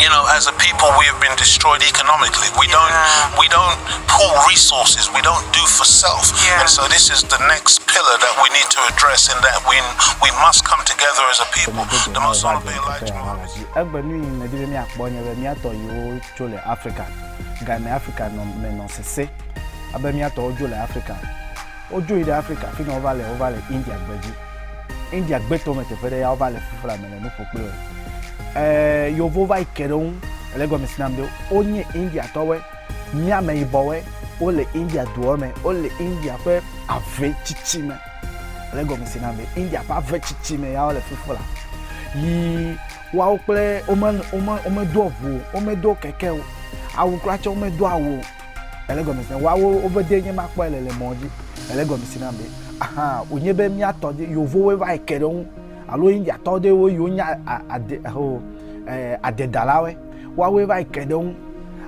You know as a people we have been destroyed economically we don't yeah. we don't pool resources we don't do for self yeah. and so this is the next pillar that we need to address in that we we must come together as a people the most honorable Elijah Muhammad egbe nu yi me di be mi akpɔ nye be mi atɔ yi wo tso le Africa ga me Africa nɔ me nɔ sese abe mi atɔ wo dzo le Africa wo dzo yi ɖe Africa fi na wo va le wo va le India gbedzi India gbetɔ me teƒe ɖe ya wova le fifla me le nu ƒo kple ɛɛ yovo va yi ke ɖe ŋu le gɔme si nam ɖe wonye India tɔwɔe míame yibɔwɔe wole India duɔ me wole India ƒe ave tsitsi me le gɔme si nam ɖe India ƒe ave tsitsi me ya wole fifla yi woawo kple wome wome womedo ʋu o womedo keke o awu kura tsɛ womedo awu o. Ele gɔme si na woawo woƒe dee nye makpɔe le le mɔ dzi. Ele gɔme si na be ahan wònye be mía tɔ dzi yovowoe va yi ke ɖe ŋu alo Indiatɔ ɖe wo yiwo nye ade ho eh, adedalawoe woawoe va yi ke ɖe ŋu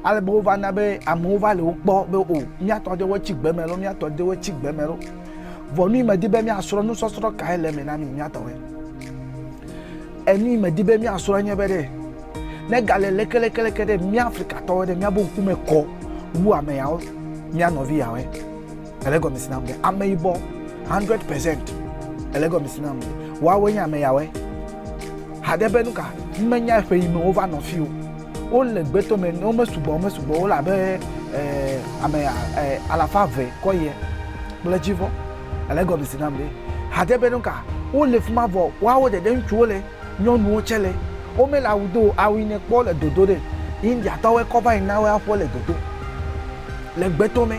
ale be wova na be amewo va le wo kpɔ be o mía tɔ ɖewo tsi gbe me lo mía tɔ ɖewo tsi gbe me lo vɔ nu yi medi be míasrɔ̃ nusɔsrɔ̃ kae le eme na mi mía tɔwoe. Enu yi medi be míasrɔ̃ nye be ɖe negale lekeleke ɖe mía Afrikatɔwo ɖe míabe ŋkume kɔ wu ame yawo mía nɔvi yawoe. Ele gɔme si nam be ameyibɔ 100 percent. Ele gɔme si nam be woawoe nye ame yawoe. Haɖe be nuka? Menya eƒe yi me wova nɔ fi o. Wole gbeto me, womesugbɔ, womesugbɔ, wole abe eh, ame eh, alafa eve kɔ ye kple dzivɔ. Ele egɔme si nam be, hade be nuka wole fima vɔ woawo ɖeɖe ŋutsuwo le, nyɔnuwo tsɛ le. Womele awu do o, awu yi nèkpɔ le dodo ɖe, Indiatɔwoe kɔ va yi na woe aƒe le dodo. Le gbeto mɛ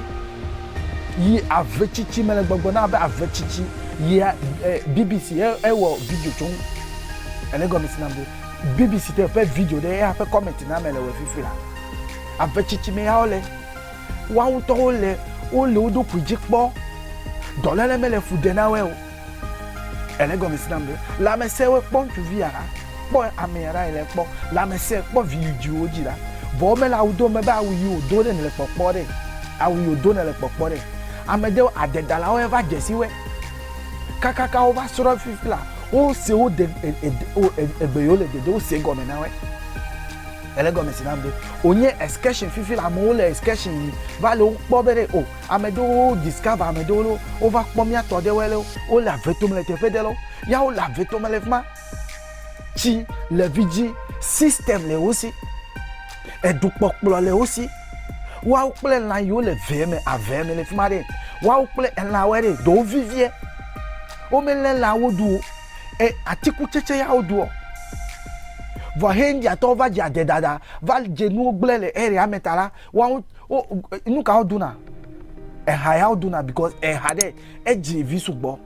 yi ave tsitsi mele gbɔgbɔ na abe ave tsitsi yi a e BBC e ewɔ video tso ŋu. Ele egɔme si nam be, BBC tɔ ƒe video ɖe eya ƒe comment na mele wɔ fifia. Ave tsitsi mɛ ya wole. Woa ŋutɔwo le wo le wo ɖokui dzi kpɔ. Dɔlele mele fu ɖe na woe o. Ele gɔme si nam be, lãmese woe kpɔ ŋutsuvi ya la, kpɔ ame ya la yi le kpɔ. Lãmese kpɔ vi yi dzi wo dzi la, vɔ wo mele awu do me be awu yi wo do ɖe nele kpɔkpɔ ɖe. Awu yi wo do nele kpɔkpɔ ɖe. Ame ɖewo adedalawo ye va dze si woe. Kakaka wo va srɔ fifi la, wo se wo de e e e egbe yi wo le dede wo se gɔme na woe. Ele gɔme si nam be wònye excursion fifi le amewo le excursion yi va le wokpɔ be ɖe o ame ɖewo discover ame ɖewo ɖe wova kpɔ mía tɔ ɖewoe ɖe wole ave tome le teƒe ɖe ɖe ya wole ave tome le fi ma tsi le vidzĩ system le wo si edukpɔkplɔ le wo si woawo kple lã yiwo le vee me avea me le fi ma ɖe woawo kple elãwoe ɖe ɖewo vivie womelé lãwo ɖu o. e atikutsetse ya wodoɔ. Vɔ he Indiatɔwo va dze ade dada va dze nuwo gblẽ le area me ta la, woawo wo nu ka wodona? Eha ya wodona because eha ɖe edzi vi sugbɔ.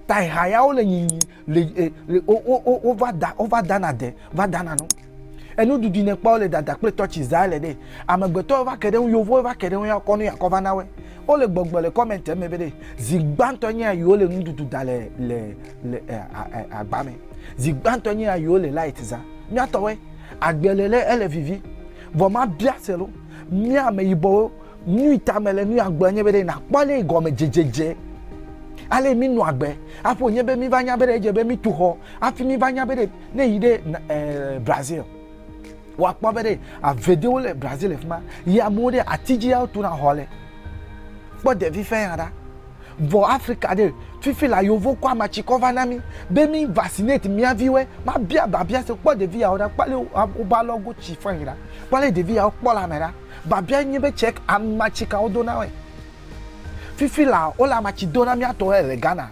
Ta eha ya wole nyinyi le e le wo wo wo wova da wova dana de va dana nu. Enu dudui ne kpɔ le dada kple tɔtsi zaa le ɖe. Amegbetɔ va ke ɖe ŋu yovo va ke ɖe ŋu ya kɔ nu ya kɔ va na we. Wo le gbɔgblɔ le comment me be ɖe zi gbãtɔ nye ya yiwo le nu dudu da le le le agba me. Zi gbãtɔ nye ya yiwo le light za. Mia tɔ we agbe le le ele vivi. Vɔ ma bia se lo. Mia me yibɔwo nu yi ta me le nu ya gblɔ nye be ɖe na kpɔ le gɔme dzedzedze. Ale mi nu agbe. Aƒo nye be mi va nya be ɖe edze be mi tu xɔ. Afi mi va nya be ɖe Ne yi ɖe eh, Brazil, woakpɔ be ɖe avedewo le Brazil le fi ma, yi amewo ɖe ati dzi ya wotona xɔ le. Kpɔ ɖevi fɛn ya ɖa. Vɔ Afrika ɖe, fifi la yovo kɔ amatsikɔ va na mí be mí vaccinate mía viwoe. Mabia babia se, kpɔ ɖevi yawo ɖa, kpɔ ale wobe alɔgo tsi fɛn ɖa, kpɔ ale ɖevi yawo kpɔ le ame ɖa. Babia nye be tsɛ amatsika wodona wɔe. Fifi la wole amatsi dona mía tɔwo le Ghana.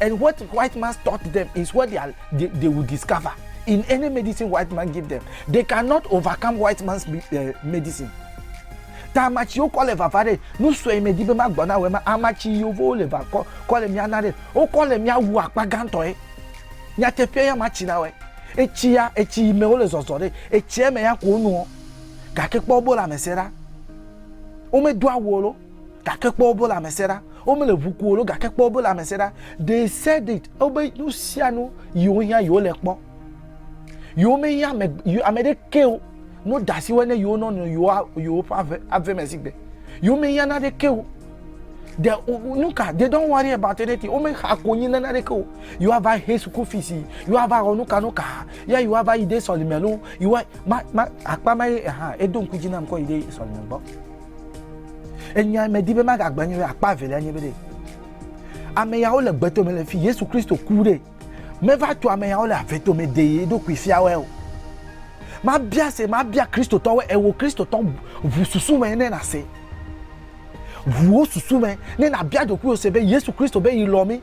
And what white man's taught them is what they, are, they, they will discover in any medicine white man give them. They cannot overcome white man's uh, medicine. Ta amatsiwo kɔ le vava ɖe nu sue me di be magbɔ na wɔ ma amatsi yevowo le va kɔ kɔ le mia na ɖe wokɔ le mia wu akpa gãtɔe nyateƒe ya matsi na wɔ etsi ya etsi yi me wole zɔzɔ ɖe etsia me ya ko nuɔ gake kpɔ bo la me se ɖa womedo awu o lo. gake kpɔ wobe lãmesẽ ɖa womele ʋu ku o gake kpɔ wobe lãmesẽ ɖa they said it wobe nu sia nu yiwo hiã yiwo le kpɔ yiwo mehiã ame ame ɖeke o no da asi wɔe ne yiwo nɔ nɔ yiwo yiwo ƒe ave ave me si gbe yiwo mehiã na ɖeke o de nu ka they don't worry about anything wo mexa konyi na ɖeke o yiwo ava he school fees yiwo ava wɔ nu ka nu ka ya yiwo ava yi ɖe sɔlime lo yiwo ma ma akpa ma ye hã edo ŋku dzi nam kɔ yi ɖe sɔlime gbɔ. Enya medi be magagblɔ nye be akpa evelia nye be ɖe ame yawo le gbetome le fi Yesu Kristo ku ɖe meva tu ame yawo le avetome de ye ɖokui fiawoe o. Mabia se mabia Kristotɔwoe ewo Kristotɔ ʋu susu me ne nase ʋuwo susu me ne nabia ɖokuiwo se be Yesu Kristo be yi lɔ mi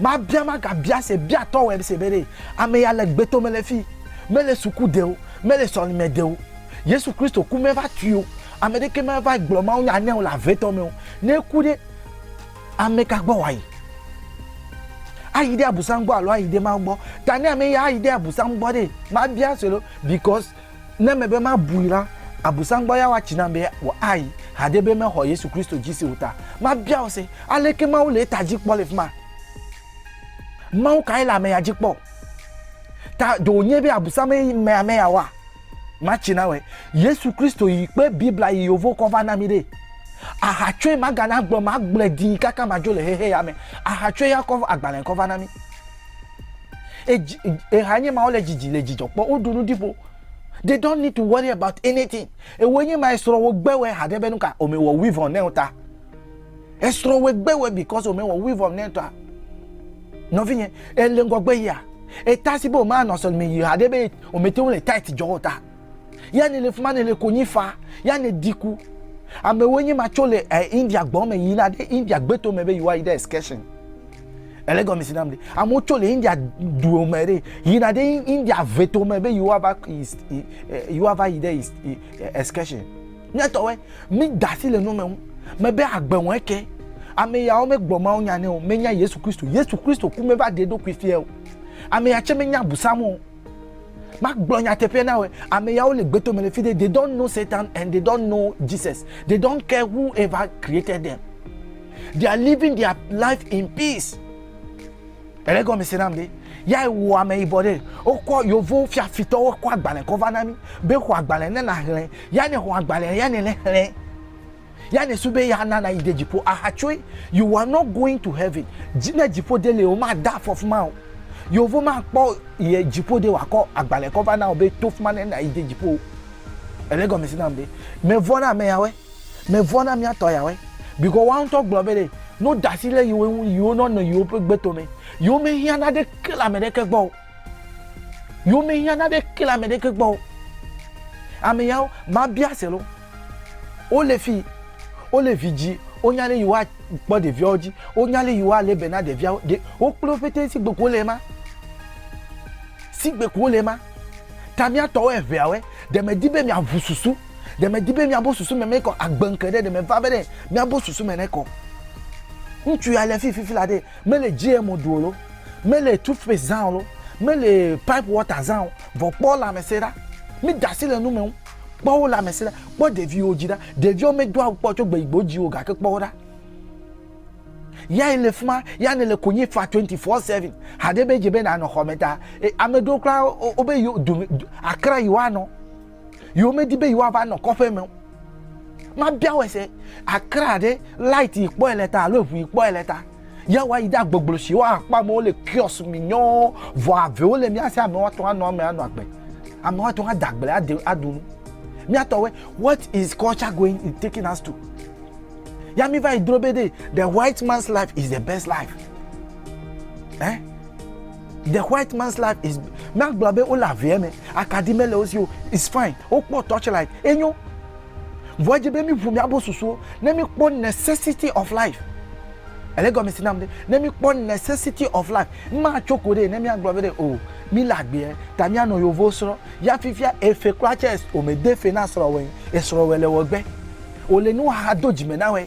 Mabia magabia se bia tɔ wɛm se bere ame ya le gbeto me le fi mele suku deo mele sɔlime deo yesu kristo ku me va tuio ame ɖeke me va gblɔ mawu nya neo le avetɔ me o ne ku ɖe ame ka gbɔ wayi ayi ɖe abusan gbɔ alo ayi ɖe mawu gbɔ ta ne ame ya ayi ɖe abusan gbɔ ɖe mabia se lo because Ne mebe mabui la, Abosam gbɔ ya woatsi nam be wòayi haɖe be mexɔ Yesu Kristo dzi se o ta. Mabia wò se, aleke Mawu le eta dzi kpɔ le fima? Mawu kae le amea dzi kpɔ? Ta ɖe wònye be Abosam ye yi mea me yawoa? Matsi na wɔe. Yesu Kristo yi kpe Biblia yi yovo kɔ va na mi ɖe. Ahatsoe magana gblɔ magblɔe dii kaka madzo le xexe ya me. Ahatsoe ya kɔ agbalẽ kɔ va na mi. eha nye ma wole dzidzi le dzidzɔ kpɔ woɖu nu ɖiƒo they don't need to worry about anything ewo nye ma esrɔ wo gbe wɛ haɖe be nuka ome wɔ weave on neo ta esrɔ wo gbe wɛ because ome wɔ weave on neo ta nɔvinye ele ŋgɔgbe yia eta si be ome anɔ sɔlime yi haɖe be ome te wo le tight jɔ wo ta. ya ne le fima ne le konyi fa ya ne diku amewo nye ma tso le eh, india gbɔ me yina ɖe india gbeto me be yewoa yi ɖe excursion ele gɔme si nam de amewo tso le india duo me ɖe yina ɖe india veto me be yewoa va yewoa va yi ɖe excursion miatɔwɛ mi dasi le nu me ŋu mebe agbe wɔe ke ame yawo megblɔ mawo nya ne o menya yesu kristo yesu kristo ku meva ɖe ɖokui fia o ame ya tse menya busam o Magblɔ nyateƒe na wò, ame yawo le gbeto me le fi ɖe, they don't know Satan and they don't know Jesus. They don't care whoever created them. They are living their life in peace. Ele gɔme se nam ɖe. Ya wò ame yibɔ ɖe, wokɔ yovo fiafitɔwo kɔ agbalẽ kɔ va na mi be xɔ agbalẽ ne naxlẽ. Ya ne xɔ agbalẽ ya ne ne xlẽ. Ya ne su be ya na na yi de dziƒo aha tsoe. You are not going to heaven. Dzi ne dziƒo de le o ma da afɔ fuma o. Yovo ma kpɔ ye dziƒo de wa kɔ agbale kɔ va na o be to fuma ne na yi de dziƒo o. Ele gɔme si nam be me vɔ na ame yawe. Me vɔ na mia tɔ yawe. Biko wa ŋutɔ gblɔ be le no dasi le yiwe ŋu yiwo nɔ nɔ yiwo ƒe gbe to me. Yiwo me hiã na ɖe ke le ame ɖe ke gbɔ o. Yewo me hiã na ɖe ke le ame ɖeke gbɔ o. Ame yawo ma bia se lo. Wo le fi, wo le vi dzi, wo nya le yewoa kpɔ ɖevia wo dzi, wo nya le yewoa le be na ɖevia wo, ɖe wo kple wo ƒete sigbe ko wo le ema. Sigbe ko wo le ema. Ta mía tɔwo eŋea woe, ɖe me di be mia ŋu susu, ɖe me di be mia bo susu me me kɔ agbe ŋke ɖe, ɖe me va be ɖe mia bo susu me ne kɔ. Ŋutsu ya le fi fifi la ɖe Mele GMO ɖu o lo, mele toothpaste zã o lo, mele pipe water zã o, vɔ kpɔ lãmesẽ ɖa. Mi da asi le nu me ŋu. Kpɔ wo lãmesẽ ɖa. Kpɔ ɖeviwo dzi ɖa. Ɖeviwo medo awu kpɔ o tso gbeyi gbe wodzi wo o gake kpɔ wo ɖa. Ya yi le fi ma, ya nèle konyi fa 24/7. Haɖe be edze be nànɔ xɔme ta. E, ame ɖewo kura wobe yewo dome akra yewoanɔ. Yewo medi be yewoava nɔ kɔƒe me o. Mabia wɔ se akra ɖe light yi kpɔe le ta alo eŋu yi kpɔe le ta. Ya wa yi ɖe agboglo si wa akpɔ amewo le kios mi nyɔɔ vɔ avewo le mia si ame wa tɔn anɔ ame anɔ agbe. Ame wa tɔn ada agble ade aɖu nu. Mia tɔ we what is culture going is taking us to. Ya mi va yi dro be de the white man's life is the best life. Eh? The white man's life is míagblɔ be wole avea me akaɖi mele wo si o it's fine wokpɔ torchlight enyo vɔ edze be míʋu míabo susuwo ne míkpɔ necessity of life ele gɔme si nam ɖe ne míkpɔ necessity of life matso ko ɖe ne míagblɔ be ɖe o oh, míle agbeɛ ta míanɔ yovo srɔ̃ ya fifia efe kura tsɛ omede fe na srɔ̃wɔe esrɔ̃wɔe le wɔgbe wòle nuhaha do dzime na wɔe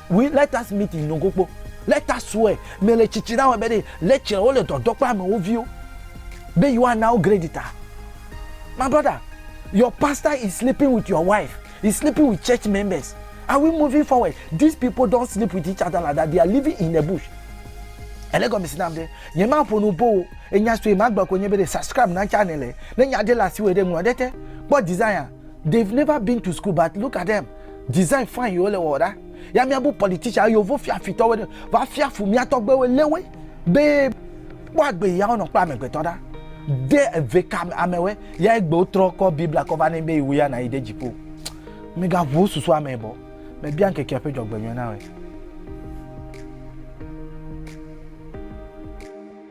We let us meet in Nogokpo. Let us swear. Me le tsitsi na wɔ be ɖe le tsɛ wo le dɔdɔ kple amewo viwo. Be yewoa na wo grade ta. My brother, your pastor is sleeping with your wife. He's sleeping with church members. Are we moving forward? These people don't sleep with each other like that. They are living in the bush. Ele gɔme si nam ɖe. Nye ma ƒo nu bo. Enya sue ma gbe ko nye be ɖe subscribe na channel. Ne nya ɖe le asi wɔ ɖe ŋlɔ ɖe te. Kpɔ design a. They've never been to school but look at them. Design fine yo le wɔ ɖa. Ya mia bu politician yovo fia fitɔ wene. Va fia fu mia tɔgbe we lewe. Be kpɔ agbe ya wonɔ kpla me gbetɔ ɖa. De eve ka ame we ya egbe wo trɔ kɔ Biblia kɔ va ne be iwu ya na yi de jipo. Me ga vo susu ame bo. Me bia nke kia pe jɔ gbe nyɔ na we.